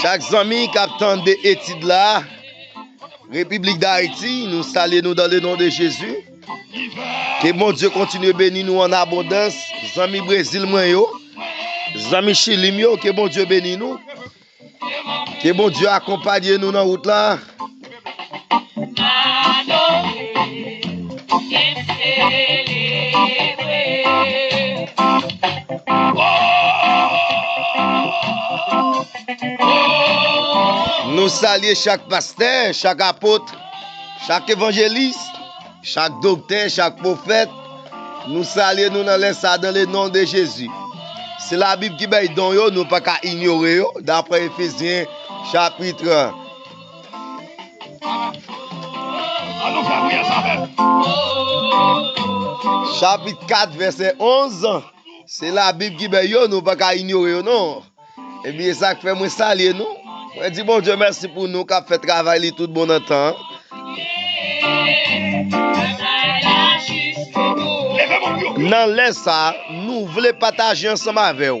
Chak zanmi kap tande etid la République d'Haïti nou salye nou dan le non de Jezi Ke Bondye kontinye beni nou an abondans zanmi Brezil mwen yo zanmi Chili m yo ke Bondye beni nou ke Bondye akonpanye nou nan wout la. Nou salye chak pastè, chak apotre, chak evanjelis, chak doktè, chak pwofèt, nou salye nou nan lè sa dan le non de Jezi. Se la Bib ki bay don yo, nou pa ka inyore yo, dapre Efesyen chapitre 1. An nou fè priyè sa avèm. Chapit 4 vèsè 11 Se la bib ki bèy yo nou paka inyore yo non Epi e sak fè mwen salye nou Mwen di Bondye mèsi pou nou kap fè travay li tout bon nan tan Nan lè sa nou vle pataje ansanm avèw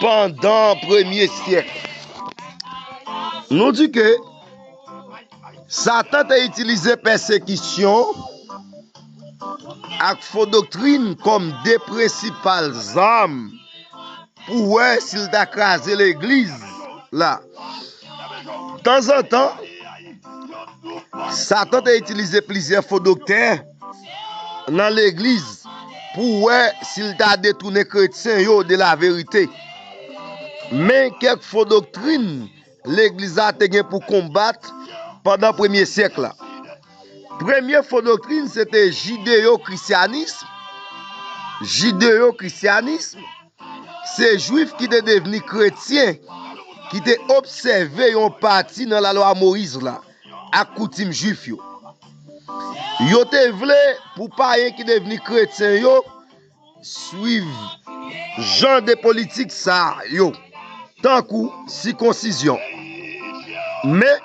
pandan premye syèk. Nou di ke Satan te itilize pèsekisyon ak fo doktrin kòm de prensipal zam pou wè si l ta kraze legliz la. Tanzantan, Satan te itilize plizyè fo doktè. nan legliz pou wè si l ta detounen kretyen yo de laverite. Men kèk fo doktrin legliz la te gen pou konbat pandan premye syèk la. Premye fo doktrin se te jideyokrisyanism. Jideyokrisyanism se Juif ki te devni kretyen ki te obsève yon pati nan Lalwa Moyiz la. ak koutim Juif yo. Yo te vle pou payen ki devni kretyen yo suiv jan de politik sa yo, tankou sikonsizyon. Men,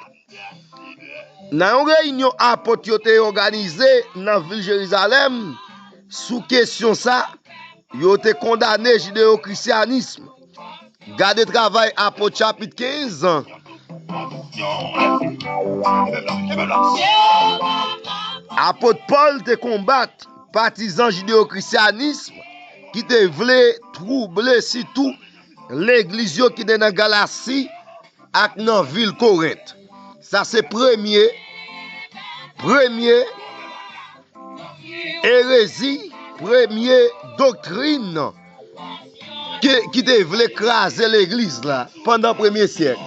nan yon reyinyon apot yo te òganize nan vil Jerizalèm sou kesyon sa a, yo te kondane jideyokrisyanism. Gade travay Apot chapit 15 jan. Apot Pòl te konbat patizan jideyokrisyanism ki te vle twouble sitou legliz yo ki te nan Galasi ak nan vil Korent. Sa se premye, premye, Erezi, premye doktrin ki te vle kraze legliz la pandan premye syèk.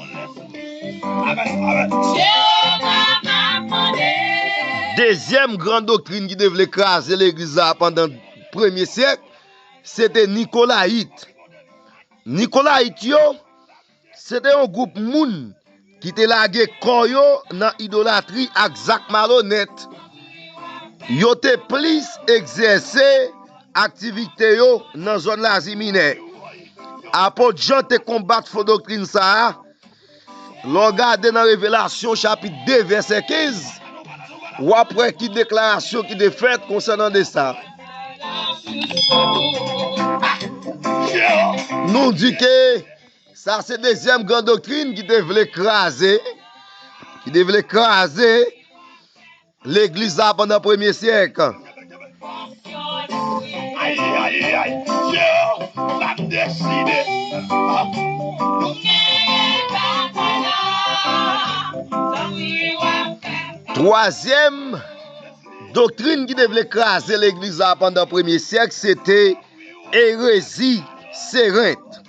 Dezyèm gran doktrin ki te vle kraze legliz la pandan premye syèk, se te Nikolayit. Nikolayit yo. Se te yon gwoup moun ki te lage kò yo nan idolatri ak zak malonèt. Yo te plis egzèse aktivite yo nan zòn Lazi Minè. Apot Jan te konbat fo doktrin sa a. Lè w gade nan Revelasyon chapit 2, vèsè 15, w ap wè ki deklarasyon ki te fèt konsènan de sa. Nou di ke Sa se dezyèm gran doktrin ki te vle kraze, ki te vle kraze legliz la pandan premye syèk. Twazyèm doktrin ki te vle kraze legliz la pandan premye syèk se te erezi serent.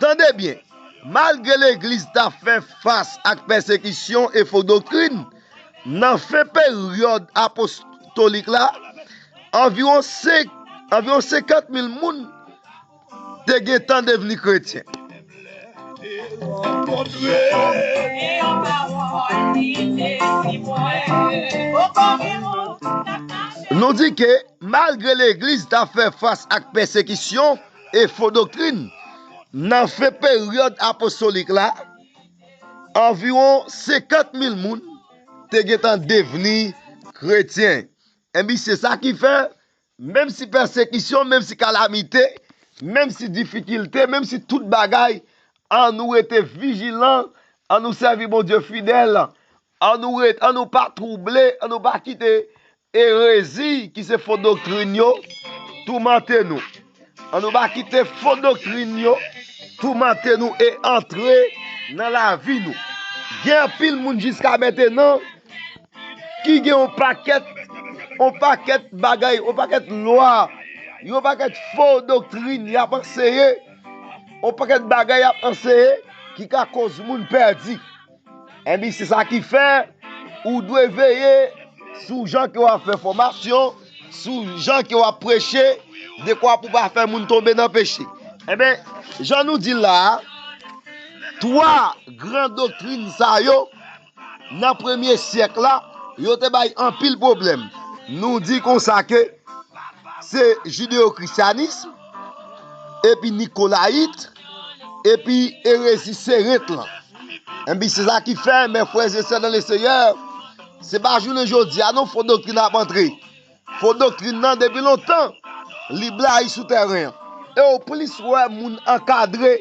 Tande byen, malgre Legliz t ap fè fas ak pèsekisyon e fo doktrin, nan fen peryòd apostolik la, anviwon senkant mil moun te gentan devni kretyen. Nou di ke malgre Legliz t ap fè fas ak pèsekisyon, e fo doktrin. Nan fen peryòd apostolik la, anviwon senkant mil moun te gentan devni kretyen. Enben, se sa ki fè, menmsi pèsekisyon, menmsi kalamite, menmsi difikilte, menmsi tout bagay, annou rete vijilan, annou sèvi Bondye fidèl, An nou ret, an nou pa twouble, an nou pa kite erezi ki se fo doktrin yo toumante nou. An nou pa kite fo doktrin yo toumante nou e antre nan lavi nou. Gen anpil moun jiska mentenan ki gen yon pakèt, yon pakèt bagay, yon pakèt lwa, yon pakèt fo doktrin y ap anseye, yon pakèt bagay y ap anseye ki ka koz moun pèdi. Enbi se sa ki fè ou dwe veye sou jan ke w ap fè fòmasyon, sou jan ke w ap preche, dekwa pou pa fè moun tonbe nan peche. Enben, jan nou di l la a, twa gran doktrin sa yo, nan premye syèk la, yo te bay anpil pwoblèm. Nou di konsa ke se jideyokrisyanism, epi nikolayit, epi erezi serent lan. Enbi se sa ki fè, mè frè ze sè nan le seyè, se pa jounen jodi a non fo doktrin ap antre. Fo doktrin nan depi lontan, li blayi sou tèren an. E ou plis wè moun ankadre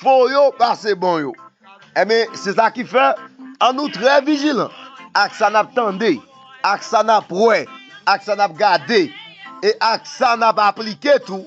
fo yo pase bon yo. Enbi se sa ki fè, an nou trè vijilan ak sa nap tande, ak sa nap wè, ak sa nap gade, e ak sa nap aplike tou.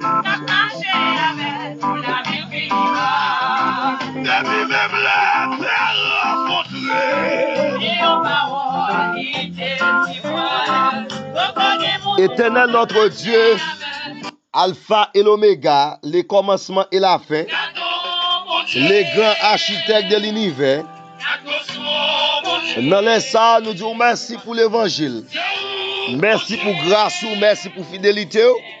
Kap mache avèl pou lavil pi ba. Depi menm lè atè a rankontre. Gen yon pawòl ki te di mwen. Poko gen moun pou Etènèl nòtre Dye, Alfa e Lomega, Lekòmansman e Lafen, Legran Achitèk de linivè, nan lè sa a nou di w mèsi pou levanjil, mèsi pou gras ou, mèsi pou fidelite w.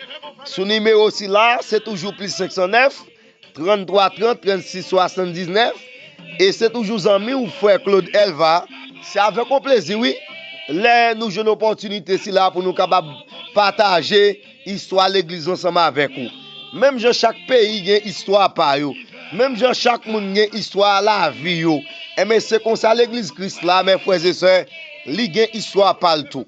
sou nimewo sila a, se toujou plis 509, 33 30 36 79, e se toujou zanmi ou frè Claude Elva, se avèk yon plezi wi, lè nou jwenn opòtinite sila a pou nou kapab pataje istwa legliz ansanm avèk ou. Menm jan chak peyi gen istwa pa yo, menm jan chak moun gen istwa lavi yo, enben se konsa legliz Kris la, mè frè e sè, li gen istwa pa l tou.